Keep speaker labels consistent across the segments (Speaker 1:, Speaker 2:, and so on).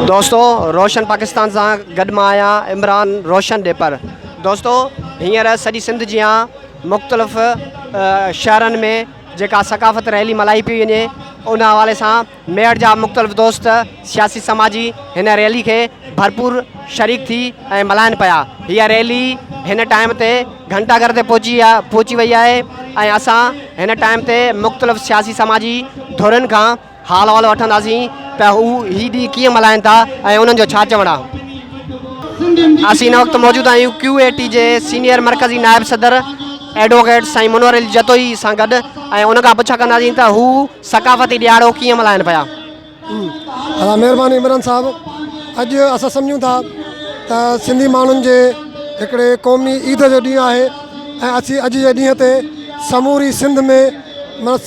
Speaker 1: دوستو روشن پاڪستان سان گڏ مان آهيان عمران روشن ڏي پر دوستو هينئر سڄي سنڌ جيان مختلف شهرن ۾ جيڪا ثقافت ريلي ملائي پي وڃي ان حوالي سان ميڙ جا مختلف دوست سياسي سماجي هن ريلي کي ڀرپور شريڪ ٿي ۽ ملائن پيا هيء ريلي هن ٽائيم تي گهنٽا گهر تي پهچي پهچي وئي آهي ۽ اسان هن ٽائيم تي مختلف سياسي سماجي ڌرين کان حال احوال وٺنداسين ته هو هي ڏينهن ڪيئن ملهائين ٿا ۽ انهن جو ڇا چوڻ آهي. اسين هن وقت موجود آهيون ڪيو اي ٽي جي سينيئر مرڪزي نائب صدر ايڊووڪيٽ سائين منور علي جتوئي سان گڏ ۽ ان کان پڇا ڪنداسين ته هو ثقافتي ڏيهاڙو ڪيئن ملهائين پيا. ادا
Speaker 2: مهرباني عمران صاحب اڄ اسان سمجهون ٿا ته سنڌي ماڻهن جي هڪڙي قومي عيد جو ڏينهن آهي ۽ اسين اڄ جي ڏينهن تي سموري سنڌ ۾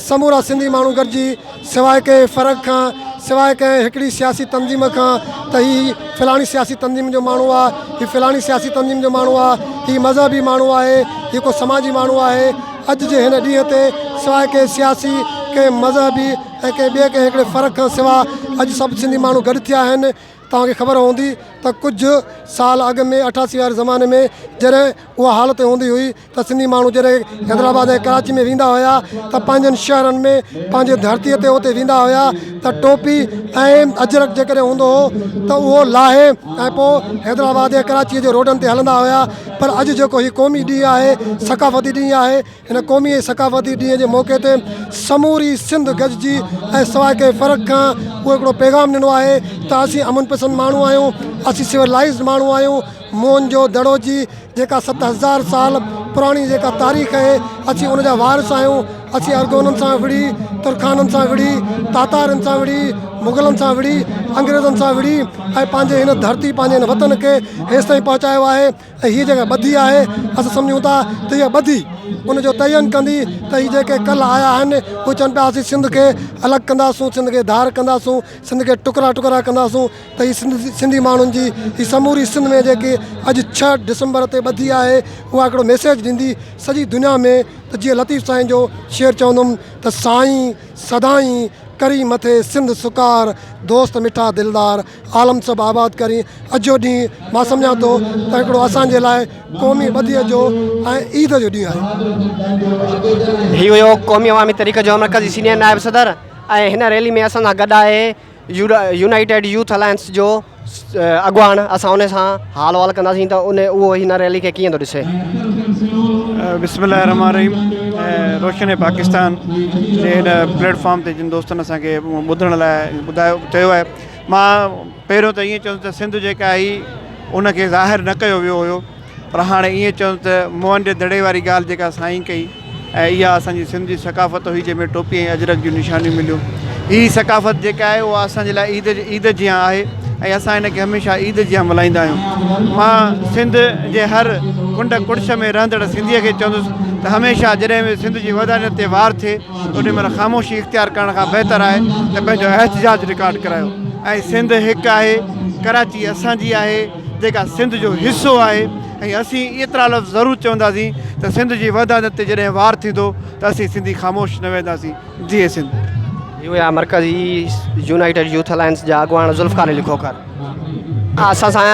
Speaker 2: سمورا سنڌي ماڻهو گڏجي سواء ڪنهن فرق کان، سواء ڪنهن هڪڙي سياسي تنظيم کان ته هي فلاڻي سياسي تنظيم جو ماڻهو آ، هي فلاڻي سياسي تنظيم جو ماڻهو آ، هي مذهبي ماڻهو آهي، هي ڪو سماجي ماڻهو آهي. اڄ جي هن ڏينهن تي سواء ڪنهن سياسي، ڪنهن مذهبي ۽ ڪنهن ٻئي ڪنهن هڪڙي فرق کان سوا اڄ سڀ سنڌي ماڻهو گڏ ٿيا آهن. توهان کي خبر هوندي ته ڪجهه سال اڳ ۾ اٺاسي واري زماني ۾ جڏهن اها حالت هوندي هئي ته سنڌي ماڻهو جڏهن حيدرآباد ۽ ڪراچي ۾ ويندا هيا ته پنهنجن شهرن ۾ پنهنجي ڌرتي تي اتي ويندا هيا ته ٽوپي ۽ اجرڪ جيڪڏهن هوندو هو ته اهو لاهي ۽ پوء حيدرآباد ۽ ڪراچي جي روڊن تي هلندا هيا پر اڄ جيڪو هي قومي ڏينهن آهي ثقافتي ڏينهن آهي هن قومي ۽ ثقافتي ڏينهن جي موقعي تي سموري سنڌ گڏجي ۽ سواء ڪنهن فرق کان اهو هڪڙو پيغام ڏنو آهي ته اسين امن پسند ماڻهو آهيون، اسين سولائيزڊ ماڻهو آهيون، موهن جو دڙو جي جيڪا ست هزار سال پراڻي جيڪا تاريخ اهي اسين ان جا وارث آهيون، اسين ارغونن سان وڙهي، ترخانن سان وڙهي، تاتارين سان وڙهي، مغلن سان وڙهي، انگريزن سان وڙهي ۽ پنهنجي هن ڌرتي پنهنجي هن وطن کي هيستائين پهچايو آهي. ۽ هيء جيڪا ٻڌي آهي، اسين سمجهون ٿا ته هيء ٻڌي ان جو تعين ڪندي ته هي جيڪي ڪل آيا آهن، اهي چون پيا اسين سنڌ کي الڳ ڪنداسون، سنڌ کي ڌار ڪنداسون، سنڌ کي ٽڪرا ٽڪرا ڪنداسون ته هي سنڌي ماڻهن جي هي سموري سنڌ ۾ جيڪي اڄ ڇهه ڊسمبر تي ٻڌي آهي، اها هڪڙو ميسيج ڏيندي سڄي دنيا ۾ ته جيئن لطيف سائين جو شعر چوندم ته سائين سدائين ڪرين مٿي سنڌ سڪار، دوست مٺا دلدار، عالم سڀ آباد ڪرين اجهو ڏينهن مان سمجهان ٿو ته هڪڙو اسان جي لاء قومي ٻڌي جو ۽ عيد جو ڏينهن آهي. هي هيو قومي
Speaker 1: عوامي تحريڪ جو مرڪزي سينيئر نائب صدر ۽ هن ريلي ۾ اسان سان گڏ آهي يونائيٽيڊ يوٿ الائنس جو اڳواڻ اسان ان سان حال احوال ڪنداسين ته ان اهو هن ريلي کي ڪيئن ٿو ڏسي. بسم الله الرحمٰن
Speaker 3: الرحيم روشن پاڪستان جي هن پليٽ فارم تي جن دوستن اسان کي ٻڌڻ لاء ٻڌايو چيو آهي مان پهريون ته ائين چوندس ته سنڌ جيڪا هئي ان کي ظاهر نه ڪيو ويو هيو پر هاڻي ائين چوندس ته موهن جي دڙي واري ڳالهه جيڪا سائين ڪئي ۽ اها اسانجي سنڌ جي ثقافت هئي جنهن ۾ ٽوپي ۽ اجرڪ جون نشانيون مليون هي ثقافت جيڪا آهي اها اسانجي لاء عيد عيد جيان آهي ۽ اسان هن کي هميشه عيد جيان ملهائيندا آهيون مان سنڌ جي هر ڪنڊ ڪڙڇ ۾ رهندڙ سنڌيء کي چوندس ته هميشه جڏهن به سنڌ جي ودانيت تي وار ٿئي انهي مهل خاموشي اختيار ڪرڻ کان بهتر آهي ته پنهنجو احتجاج رڪارڊ ڪرايو ۽ سنڌ هڪ آهي ڪراچي اسان جي آهي جيڪا سنڌ جو حصو آهي ۽ اسين ايترا لفظ ضرور چونداسين ته سنڌ جي وحدانت تي جڏهن وار ٿيندو ته اسين سنڌي خاموش نه ويهنداسين جيئي سنڌ. جي هئا
Speaker 1: مرڪزي يونائيٽيڊ يوٿ الائنس جا اڳواڻ ذوالفقار علي کوکر. اسان سان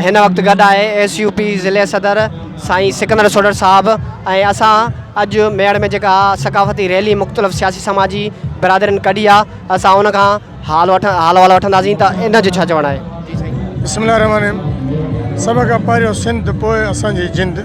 Speaker 1: هن وقت گڏ آهي ايس يو پي ضلعي صدر سائين سڪندر سوڍر صاحب ۽ اسان اڄ ميڙ ۾ جيڪا ثقافتي ريلي مختلف سياسي سماجي برادرين ڪڍي آ اسان ان کان حال وٺ حال احوال وٺنداسين ته ان جو ڇا چوڻ آهي. بسم الله الرحمٰن الرحيم
Speaker 2: سڀ کان پهريون سنڌ پوء اسان جي جند.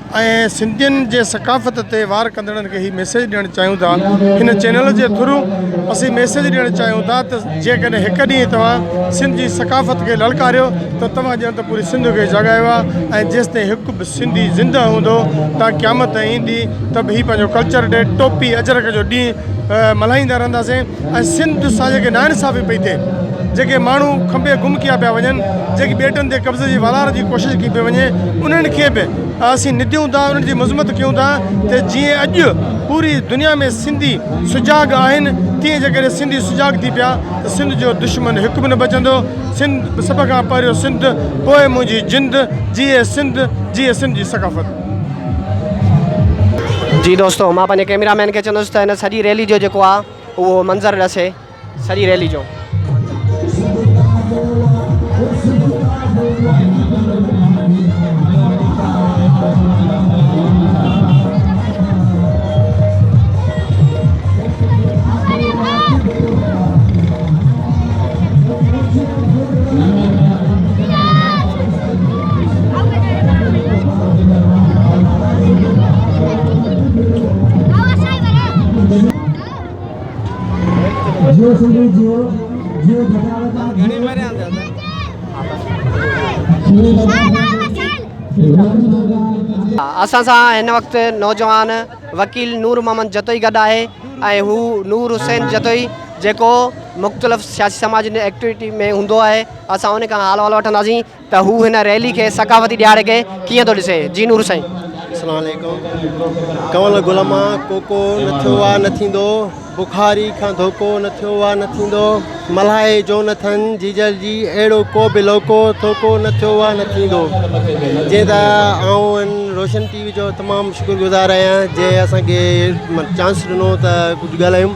Speaker 2: ۽ سنڌين جي ثقافت تي وار ڪندڙن کي هي ميسيج ڏيڻ چاهيون ٿا هن چينل جي ٿرو اسين ميسيج ڏيڻ چاهيون ٿا ته جيڪڏهن هڪ ڏينهن توهان سنڌ جي ثقافت کي للڪاريو ته توهان ڄڻ ته پوري سنڌ کي جاڳايو آهي ۽ جيستائين هڪ به سنڌي زنده هوندو تان قيامت ايندي ته به هي پنهنجو ڪلچر ڊي ٽوپي اجرڪ جو ڏينهن ملهائيندا رهنداسين ۽ سنڌ جو سان جيڪي ناانصافي پئي ٿئي جيڪي ماڻهو کنڀي گم ڪيا پيا وڃن جيڪي ٻيٽن تي قبضي جي والار جي ڪوشش ڪئي پئي وڃي انهن کي به اسين نديون ٿا انهن جي مذمت ڪيون ٿا ته جيئن اڄ پوري دنيا ۾ سنڌي سجاڳ آهن تيئن جيڪڏهن سنڌي سجاڳ ٿي پيا ته سنڌ جو دشمن هڪ به نه بچندو سنڌ سڀ کان پهريون سنڌ پوء منهنجي جند جيئي سنڌ جيئي سنڌ جي ثقافت.
Speaker 1: جي دوستو مان پنهنجي ڪيميرا مين کي چوندس ته هن سڄي ريلي جو جيڪو آ اهو منظر ڏسي سڄي ريلي جو اسان سان هن وقت نوجوان وڪيل نور محمد جتوئي گڏ آهي ۽ هو نور حسين جتوئي جيڪو مختلف سياسي سماجي ايڪٽيوٽي ۾ هوندو آهي اسان ان کان حال احوال وٺنداسين ته هو هن ريلي کي ثقافتي ڏهاڙي کي ڪيئن ٿو ڏسي جي نور سائين. اسلام عليڪم
Speaker 4: ڪنول غلما ڪوڪو نه ٿيو آ نه ٿيندو بخاري کان ڌوڪو نه ٿيو آ نه ٿيندو ملهائي جو نه ٿن جيجل جي اهڙو ڪو به لوڪو ٿوڪو نه ٿيو آ نه ٿيندو جي ته آئون روشن ٽي وي جو تمام شڪر گذار آهيان جي اسان کي چانس ڏنو ته ڪجهه ڳالهايون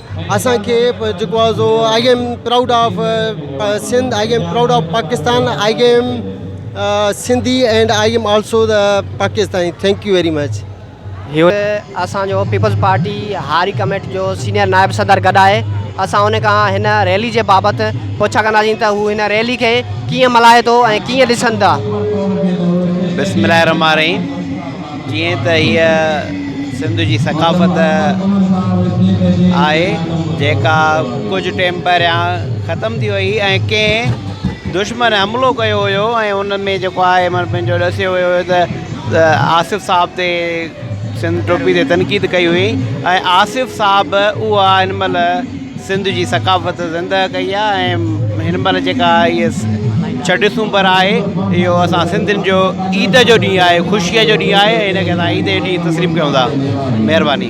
Speaker 4: اسان کي جيڪو آ سو I am proud of Sindh I am proud of Pakistan I am Sindhi and I am also the Pakistani thank you very much هيو
Speaker 1: اسان جو پيپلز پارٽي هاري ڪميٽ جو سينئر نائب صدر گڏ آهي اسان ان کان هن ريلي جي بابت پڇا ڪنداسين ته هو هن ريلي کي ڪيئن ملهائي ٿو ۽ ڪيئن ڏسن ٿا بسم الله الرحمن
Speaker 5: الرحيم جيئن ته هيء سنڌ جي ثقافت آهي جيڪا ڪجهه ٽيم پهريان ختم ٿي وئي ۽ ڪنهن دشمن حملو ڪيو هيو ۽ ان ۾ جيڪو آهي مطلب پنهنجو ڏسيو ويو هيو ته آصف صاحب تي سنڌ ٽوپي تي تنقيد ڪئي هئي ۽ آصف صاحب اها هن مهل سنڌ جي ثقافت زندهه ڪئي آ ۽ هن مهل جيڪا هيء ڇهه ڊسمبر آهي اهو اسان سنڌين جو عيد جو ڏينهن آهي خوشيء جو ڏينهن آهي هن کي اسان عيد جي ڏينهن تسليم ڪيون ٿا مهرباني.